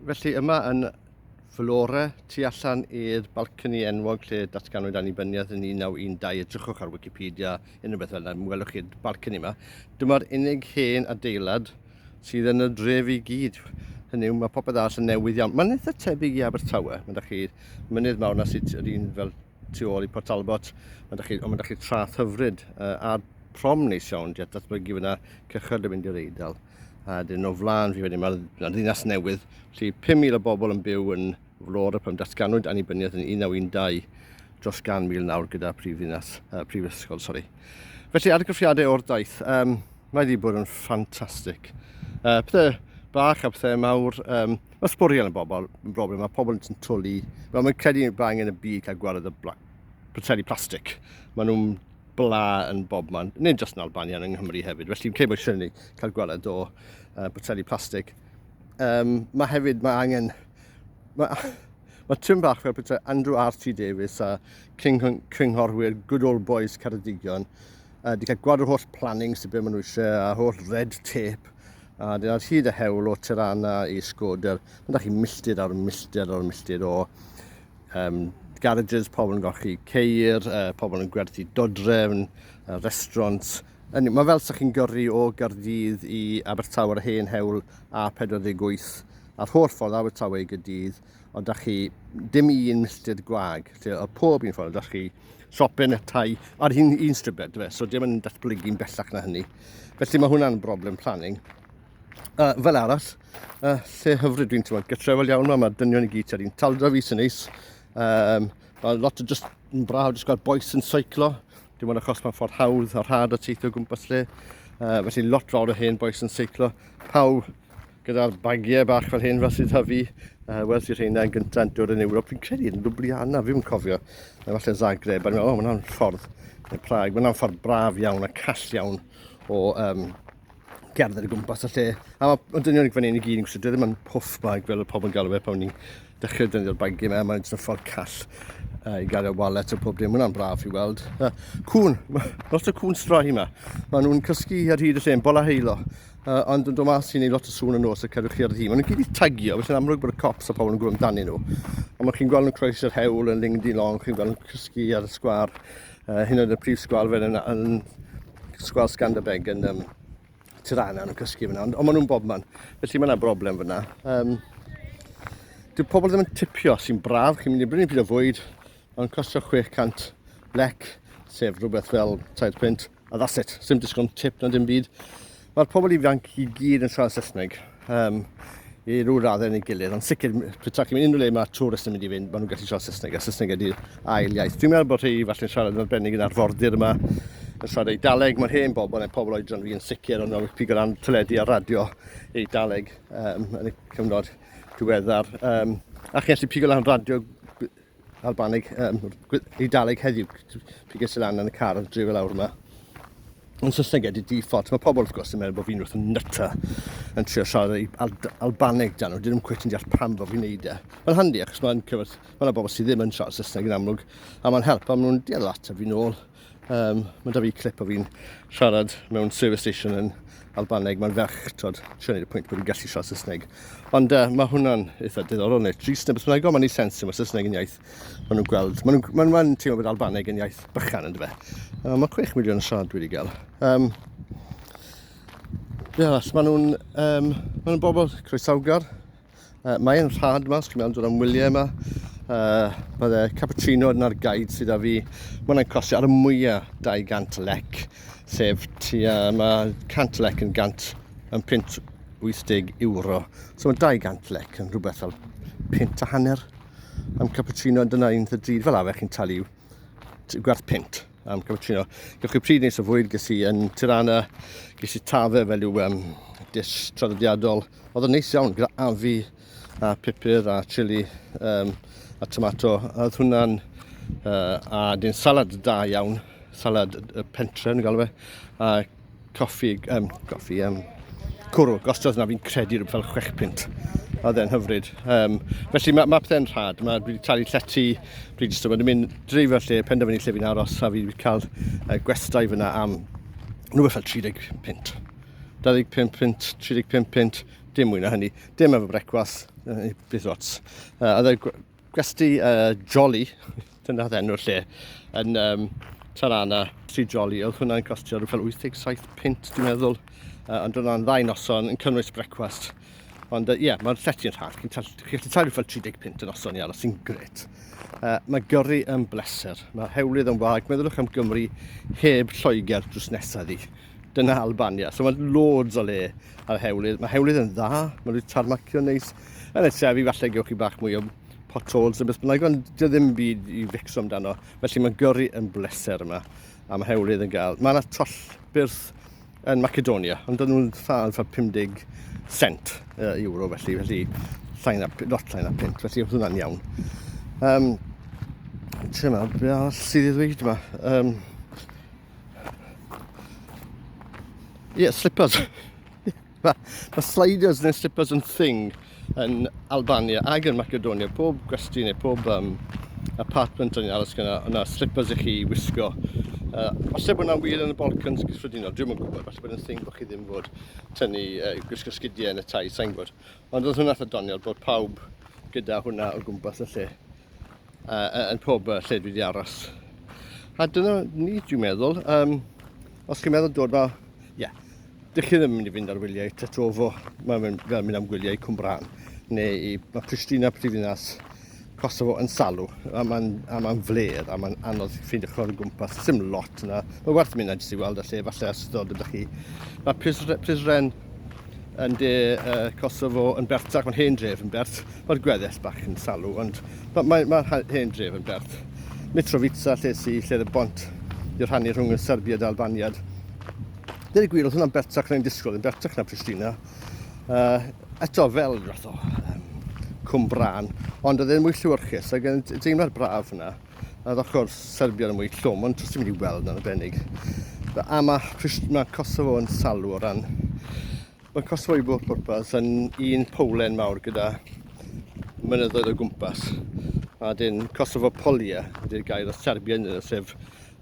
Felly yma yn Flora, tu allan i'r balcony enwog lle datganwyd annibyniaeth yn 1912, edrychwch ar Wikipedia, unrhyw beth fel yna, mi welwch chi'r balcony yma. Dyma'r unig hen adeilad sydd yn y dref i gyd. Hynny yw, mae popeth arall yn newydd iawn. Mae'n eitha tebyg i Abertawe. Mae da chi mynydd mawr na sut yr un fel tu ôl i Port Talbot, mae da chi, ond mae da chi trath hyfryd uh, a'r prom neis iawn, diet datblygu fyna cychyrd yn mynd i'r eidl. A dyn o flaen fi wedyn, mae'r ma ddinas newydd, lle 5,000 o bobl yn byw yn flor y pan datganwyd annibyniaeth yn 1912 dros gan mil nawr gyda prif ddinas, uh, prif ysgol, sori. Felly, argraffiadau o'r daith, um, mae wedi bod yn ffantastig. Uh, pethau bach a pethau mawr, um, Mae sbwriel yn bobl yn broblem, mae pobl yn twlu. Mae nhw'n credu bod angen y byd cael gwared y poteli plastig. Mae nhw'n bla yn bob man, nid jyst yn Albania, yng Nghymru hefyd. Felly yn credu bod eisiau ni cael gwared o uh, poteli plastig. Um, mae hefyd, mae angen... Mae, mae tîm bach fel pethau Andrew R.T. Davies a cynghorwyr Good Old Boys Ceredigion Uh, di cael gwad o'r holl planning sydd beth maen nhw eisiau, a holl red tape, a dyna hyd y hewl o Tirana i Skoder. Mae chi milltir ar milltir ar milltir o um, garages, pobl yn golchi ceir, uh, pobl yn gwerthu dodrefn, uh, restaurants. Mae fel sa'ch chi'n gyrru o Gardydd i Abertawe ar hen hewl A48 a'r holl ffordd Abertawe i Gydydd, ond da chi dim un milltir gwag, lle o pob un ffordd, da chi siopau netai ar un, un stribed, fe, so dim yn datblygu'n bellach na hynny. Felly mae hwnna'n broblem planning. Uh, fel arall, uh, lle hyfryd dwi'n teimlo, gytrefol iawn yma, mae'r dynion i gyd ar un taldra fi sy'n neis. Um, mae lot o just yn braf, jyst gweld boes yn seiclo. Dim ond achos mae'n ffordd hawdd a rhad o teithio gwmpas lle. Uh, felly lot fawr o hen boes yn seiclo. Pawb Gyda'r bagiau bach fel hyn fel sydd hyfu, fi, uh, wel sydd rheina yn gyntaf yn dod yn Ewrop, fi'n credu yn Ljubljana, fi'n cofio, neu falle Zagreb, a ni'n meddwl, o, mae'n ffordd, neu Prague, mae'n ffordd braf iawn a call iawn o um, gerdded y gwmpas y lle. A mae dynion fan hyn i gyd yn gwsio, ddim yn puff bag fel y pobl yn galw fe pan ni'n dechrau dynion bagiau yma, mae'n jyst yn ffordd call uh, i gael y wallet o pob dim, mae'n braf i weld. Uh, cwn, lot o cwn strae yma, maen nhw'n cysgu ar hyd y lle, yn bola heilo, Uh, ond yn dod mas i wneud lot o sŵn yn nos y cerwch chi ar ddi. Maen nhw'n gyd i tagio, felly'n amlwg bod y cops a pobl yn gwrdd amdani nhw. Ond mae chi'n gweld nhw'n croes yr hewl yn ling di long, chi'n gweld nhw'n cysgu ar y sgwar, uh, hyn oedd y prif sgwar fel yn, yn sgwar Scanderbeg yn um, Tirana yn cysgu fyna, ond, ond maen nhw'n bobman. Felly mae yna broblem fyna. Um, Dyw pobl ddim yn tipio sy'n braf, chi'n mynd i brynu pryd o fwyd, mae'n costio 600 lec, sef rhywbeth fel 3 pwynt, A that's it, sim disgwn tip na dim byd. Mae'r pobl ifanc i gyd yn siarad Saesneg um, i rhyw raddau yn ei gilydd, ond sicr, pwyta chi'n mynd unrhyw le mae tourist yn mynd i fynd, maen nhw'n gallu siarad Saesneg, a Saesneg ydy'r ail iaith. Dwi'n meddwl bod rhai falle'n siarad yn arbennig yn arfordir yma, yn siarad ei daleg, mae'r hen bobl, neu pobl oedran fi yn sicr, ond oedd pig o ran teledu a radio ei daleg um, yn y cyfnod diweddar. Um, a chi'n gallu pig o ran radio Albaneg, um, Eidaleg heddiw, pig eisiau lan yn y car yn drefel awr yma. Yn Saesneg ydy default. Mae pobl wrth gwrs yn meddwl bod fi'n wrth yn nyta yn trio siarad ei Al Albaneg dan nhw. Dyn nhw'n cwet yn deall pam fod fi'n neud e. Mae'n handi achos mae'n cyfod, mae yna bobl sydd ddim yn siarad Saesneg yn amlwg a mae'n help a maen nhw'n deall at a fi'n ôl. Um, mae da fi clip o fi'n siarad mewn service station yn Albaneg. Mae'n ferch, tod, trio wneud y pwynt bod fi'n gallu siarad Saesneg. Ond uh, mae hwnna'n eitha diddorol neu trist neu beth bynnag, ond mae'n ei sens yma Saesneg yn iaith. Maen nhw'n gweld, maen nhw'n maen, maen teimlo bod Albaneg yn iaith bychan yn dyfa. Uh, mae 6 miliwn o siarad wedi gael. Um, Ie, yeah, maen nhw'n um, maen nhw bobl croesawgar, Uh, Mae'n rhad yma, os chi'n meddwl dod am wyliau yma. Uh, mae dde cappuccino yna'r gaid sydd â fi. Mae hwnna'n costio ar y mwyaf 200 lec, sef ti a mae 100 lec yn 100 yn pint 80 euro. So mae 200 lec yn rhywbeth fel pint a hanner am cappuccino, dyna un dda drud fel afer chi'n talu gwerth pint am cappuccino. Gewch chi pryd nes o fwyd, ges i yn Tirana, ges i tafe fel yw um, dish traddodiadol, Oedd yn neis iawn gyda afi a pupur a chili um, a tomato. Oedd hwnna'n... Uh, a dyn salad da iawn. Salad y pentre yn galw fe. A coffi... Um, coffi... Um, cwrw. Gostodd na fi'n credu rhywbeth fel chwech pint. Oedd e'n hyfryd. Um, felly mae ma pethau'n rhad. Mae wedi talu llety Bridgestone. Mae'n mynd dreifio lle, penderfynu lle fi'n aros a fi wedi cael uh, gwestai fyna am rhywbeth fel 30 pint. 25 punt, 35 punt, dim mwy na hynny. Dim efo brecwast, bydd lots. Uh, oedd e gwesti uh, Jolly, dyna oedd enw'r lle, yn um, Tarana, tri Jolly. Oedd hwnna'n costio rhywbeth fel 87 punt, dwi'n meddwl. Uh, ond oedd hwnna'n ddau noson yn cynnwys brecwast. Ond ie, uh, yeah, mae'r llety yn rhad. Chi'n gallu talu fel 30 pint yn oson i aros sy'n gret. Uh, mae gyrru yn bleser. Mae hewlydd yn wag. Meddyliwch am Gymru heb Lloegr drws nesaf ddi. Dyna Albania. So mae loads o le ar hewlydd. Mae hewlydd yn dda, mae nhw'n tarmacio neis. Yn y trefi falle gewch chi bach mwy o potholes yn beth bynnag, ond dy ddim byd i fixo amdano. Felly mae'n gyrru yn bleser yma, a mae hewlydd yn gael. Mae yna toll byrth yn Macedonia, ond dyn nhw'n llawn ffa 50 cent uh, euro felly, felly llain a, lot llain a pint, felly oedd hwnna'n iawn. Um, Ti'n meddwl, beth arall sydd i ddweud yma? Um, yeah, slippers. Mae ma sliders neu slippers yn thing yn Albania ac yn Macedonia. Pob gwesti neu pob um, apartment yn aros gyda yna slippers i chi wisgo. Uh, falle bod yna'n wir yn y Balkans gyffredinol, dwi'n yn gwybod, falle bod yna'n thing bod chi ddim fod tynnu uh, gwisgo sgidiau yn y tai, sa'n gwybod. Ond oedd hwnna'n ddoniol bod pawb gyda hwnna o gwmpas y lle. uh, yn pob uh, lle dwi wedi aros. A dyna ni, dwi'n meddwl, um, os chi'n meddwl dod ma, ie, yeah, dych chi ddim yn mynd i fynd ar wyliau i Tetrovo, mae'n mynd, fel mynd am gwyliau i Cwmbran, neu i, mae Pristina prifddinas Kosovo yn salw, a mae'n ma fledd, a mae'n anodd ffeindio chwrdd o gwmpas, sy'n lot yna. Mae werth mynd na jyst i weld y lle, falle os ddod ydych chi. Mae Prizren, yn de uh, Kosovo yn bertach, mae'n hen dref yn bert, mae'r gweddill bach yn salw, ond mae'r mae, mae hen dref yn bert. Mitrovica, lle si, lle y bont i'r rhannu rhwng y Serbiad a Albaniad. Dyna gwir, oedd hwnna'n bertach na'n disgwyl, yn bertach na Pristina. Uh, eto fel rhath o um, cwm brân, ond oedd e'n mwy lliwyrchus, ac yn deimlad braf yna. Yr ochr Serbian yn mwy llwm, ond os ti'n mynd i weld yn arbennig. A mae, mae Kosovo yn salw o ran... Mae Kosovo i bob pwrpas yn un powlen mawr gyda mynyddoedd o gwmpas. A dyn Kosovo Polia ydy'r gair o Serbian yna, sef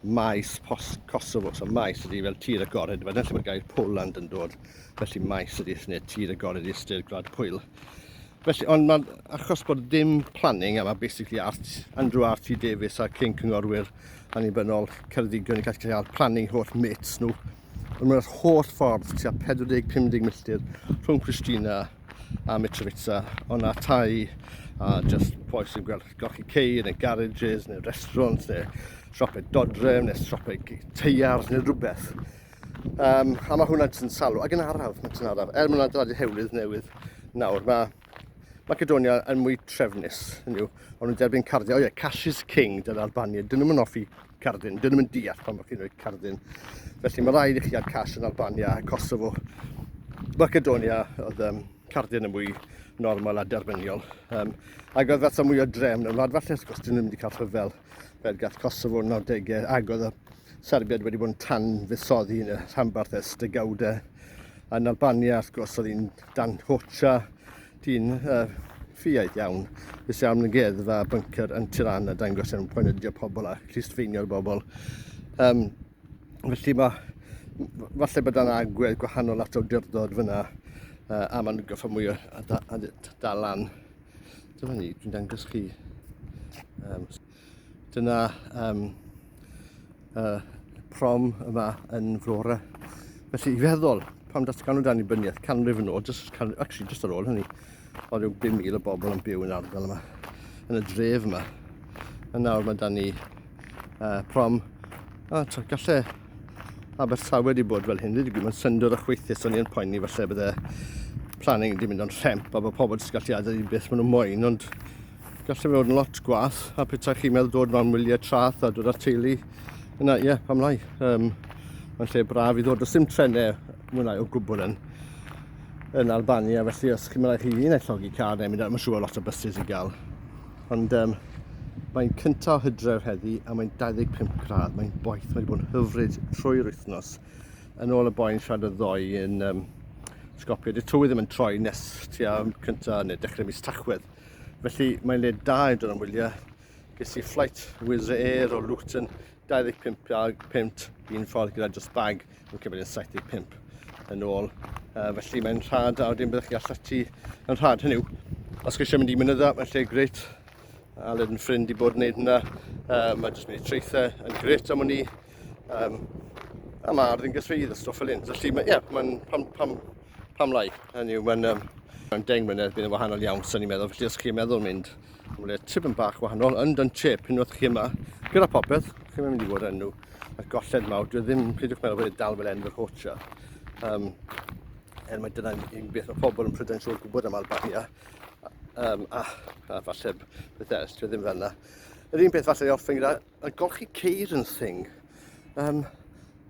maes post Kosovo. So maes ydy fel tir agored, wedyn lle mae'r gair Poland yn dod. Felly maes ydy, neu tir agored ystyr gwlad pwyl. Felly, ond mae'n achos bod dim planning yma, basically, Art, Andrew RT Davies a Cyn Cyngorwyr Annibynnol Ceredigion i gallu cael planning holl mates nhw. Ond mae'r holl ffordd tua 40-50 milltir rhwng Christina a Mitrovica, ond na tai a just poi sy'n gweld golchi cei neu garages neu restaurants neu siopau dodref neu siopau teiars neu rhywbeth. Um, a mae hwnna jyst yn salw, ac yn araf, mae jyst yn araf. Er mae'n adeiladu hewlydd newydd nawr, mae Macedonia yn mwy trefnus yn yw. Ond nhw'n derbyn cardyn. O ie, cash is king, dyna Albania. Dyn nhw'n offi cardyn. Dyn nhw'n deall pan bod chi'n rhoi cardyn. Felly mae rhaid i chi ar cash yn Albania a Kosovo. Macedonia oedd um, cardyn yn mwy normal a derbyniol. Um, ac oedd fatha mwy o drefn yn wlad falle, os gwrs, dyn nhw'n mynd i cael rhyfel. Fel gath Kosovo yn 90au ac oedd y Serbiad wedi bod yn tan fusoddi yn y rhanbarth ers degawdau. Yn Albania, wrth gwrs, oedd hi'n dan hocha dyn uh, ffiaidd iawn. Fes iawn yn geddfa a bunker yn Tirana dangos yn poenydio pobl a clustfeinio'r bobl. Um, felly mae, falle bod yna agwedd gwahanol at awdurdod fyna uh, a mae'n goffa mwy o dalan. Dyma ni, dwi'n dangos chi. Um, dyna um, uh, prom yma yn Flora. Felly i feddwl, pam datgan o dan i byniaeth, canrif yn ôl, just, can, actually just ar ôl hynny, oedd rhyw 5,000 o bobl yn byw yn ardal yma, yn y dref yma. A nawr mae dan ni uh, prom. A to, galle Abertawe wedi bod fel hyn, wedi gwybod syndod o chweithus, o'n i'n poeni falle bydde planning wedi mynd o'n rhemp a bod pobl wedi gallu adael i beth maen nhw'n moyn, ond gallu fe fod yn lot gwaith a pethau chi'n meddwl dod mewn wyliau trath a dod â teulu yna, ie, yeah, pam lai. Um, mae'n lle braf i ddod, does dim trenau mwy lai o gwbl yn, yn Albania, felly os chi'n mynd chi un llogi car neu mynd, mae'n siŵr lot o bysus i gael. Ond um, mae'n cyntaf o hydref heddi a mae'n 25 gradd. Mae'n boeth, mae'n bod yn hyfryd trwy'r wythnos. Yn ôl y boi'n siarad y ddoi yn um, sgopio. Dy tywydd ddim yn troi nes tua cyntaf neu dechrau mis tachwedd. Felly mae'n le da i dod am wyliau. Ges i flight Wizz Air o Luton 25 a 5 un ffordd gyda just bag yn cyfeiriad 75 yn ôl. Uh, felly mae'n rhad a wedyn byddwch chi allan ti yn rhad. Hynny yw, os chi eisiau mynd i mynydda, mae'n lle gret. Aled yn ffrind i bod yn gwneud hynna. Uh, mae jyst mynd i treithau yn gret am hwn i. Um, a mae ardd yn gythrydd a stwff fel hyn. Felly, ie, yeah, mae'n pan, pan, Pam lai? Hynny yw, mae'n um, mae'n deng mlynedd bydd yn wahanol iawn, sy'n ni'n meddwl. Felly os chi'n meddwl mynd am le tip yn bach wahanol, yn dyn chip, unwaith chi yma, gyda popeth, chi'n mynd i fod yn nhw. Mae'r golled mawr, dwi ddim, peidiwch meddwl bod e dal fel enw yr hotra. Um, er mae dyna'n un beth mae pobl yn prydain siŵr gwybod am Albania. Um, a, a falle beth eraill, dwi ddim fel yna. Yr un peth falle i orffen gyda a golchi ceir yn Sing. Um,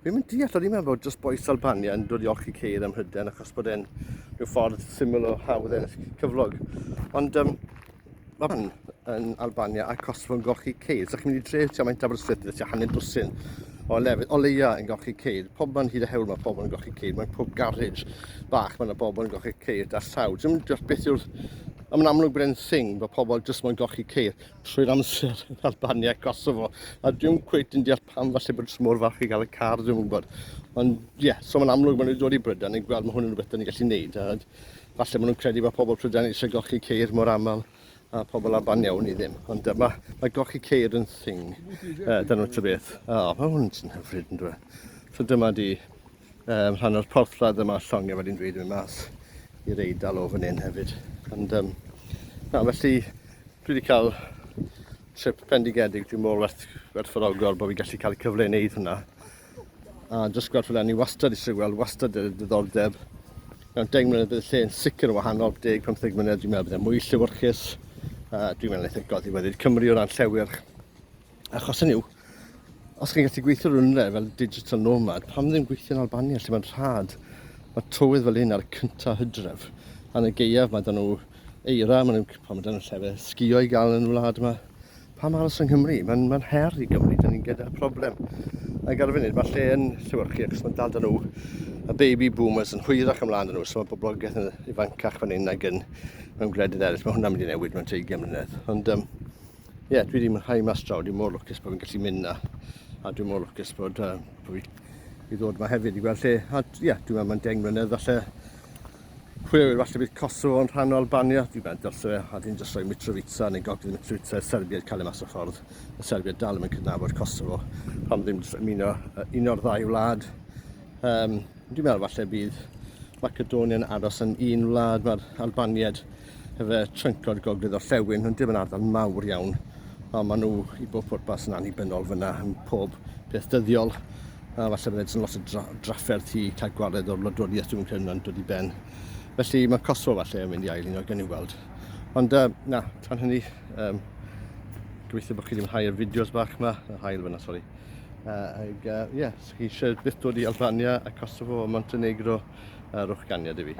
fi'n mynd deall, o'n i'n meddwl bod just boes Albania yn dod i olchi ceir ym Mhryden achos bod e'n rhyw ffordd syml o hawdd ennill cyflog. Ond um, mae fan yn Albania a Kosovo yn golchi ceir. So chi'n mynd i dref tua maint Aberystwyth, tua hanner dwsin o lefydd, o leia yn golchi ceir. Pob man hyd a hewl mae pobl yn golchi ceir. Mae'n pob garej bach mae yna bobl yn golchi ceir da llaw. Dwi'n mynd deall beth yw'r... Mae'n amlwg bod e'n thing bod pobl jyst mae'n golchi ceir. trwy'r amser yn Albania a Kosovo a dwi'n cweit yn deall pam falle bod smwr fach i gael y car dwi'n gwybod ond ie yeah, so mae'n amlwg maen nhw'n dod i Brydain ni'n gweld mae hwn yn rhywbeth da ni'n gallu neud a falle maen nhw'n credu bod pobl Prydain eisiau golchi ceir mor aml a pobl Albania wn i ddim ond uh, mae, mae golchi ceir yn thing uh, da nhw'n tybeth o oh, mae hwn yn hyfryd yn dweud so dyma di um, rhan o'r porthladd yma llongau wedi'n dweud yn mynd mas i'r eidal o fan hyn hefyd. Ond, um, na, felly, dwi wedi cael trip pendigedig, dwi'n môl werth, werthfawrogol bod fi gallu cael y cyfle i wneud hwnna. A jyst gweld fel ni wastad eisiau gweld, wastad y diddordeb. Mewn 10 mlynedd bydd y lle yn sicr yn wahanol, 10-15 mlynedd dwi'n meddwl bydd e mwy lliwyrchus. Uh, dwi'n meddwl eithaf goddi wedyd Cymru o ran llewyrch. Achos hynny yw, Os chi'n gallu gweithio rhywle fel digital nomad, pam ddim gweithio yn Albania lle mae'n rhad? Mae tywydd fel un ar y cyntaf hydref. Yn y geiaf mae dyn nhw eira, mae nhw'n cwpan, mae dyn nhw'n llefe sgio i gael yn y wlad yma. Pam aros yng Nghymru? Mae'n ma her i Gymru, dyn ni'n gyda problem. Yn gael y funud, mae lle yn Llywyrchu ac os mae'n dal dyn nhw y baby boomers yn hwyrach ymlaen yn nhw, so mae boblogaeth yn ifancach fan hyn nag yn mewn gwledydd eraill. Mae hwnna'n mynd i newid mewn 20 mlynedd. Ond um, Ie, yeah, dwi wedi mwynhau mas draw, dwi'n mor lwcus bod fi'n gallu mynd na. A dwi'n mor lwcus bod, uh, bod fi i ddod yma hefyd i gweld lle. A ie, yeah, dwi'n meddwl mae'n deng mlynedd falle. Pwy yw'r falle bydd Kosovo yn rhan o Albania, dwi'n meddwl dylse fe, a dwi'n jyst rhoi Mitrovica neu gogydd Mitrovica i'r Serbiaid cael ei mas o ffordd. Y Serbiaid dal yn cydnabod Kosovo, pan ddim jyst ymuno un o'r ddau wlad. Um, dwi'n meddwl falle bydd Macedonia yn aros yn un wlad, mae'r Albaniad Efe tryncod gogledd o Llewyn, hwn dim yn ardal mawr iawn, ond maen nhw i bob pwrpas yn annibynnol fyna yn pob peth dyddiol. A falle bydd edrych yn lot o dra drafferth i cael gwared o'r wladwriaeth dwi'n credu yn dod i ben. Felly mae Kosovo falle yn mynd i ail un o gen i weld. Ond uh, na, tan hynny, um, gobeithio bod chi ddim yn hau'r fideos bach yma, yr hael fyna, sori. Uh, ag, uh, yeah, chi eisiau byth dod i Albania a Kosovo a Montenegro, uh, rwch ganiad i fi.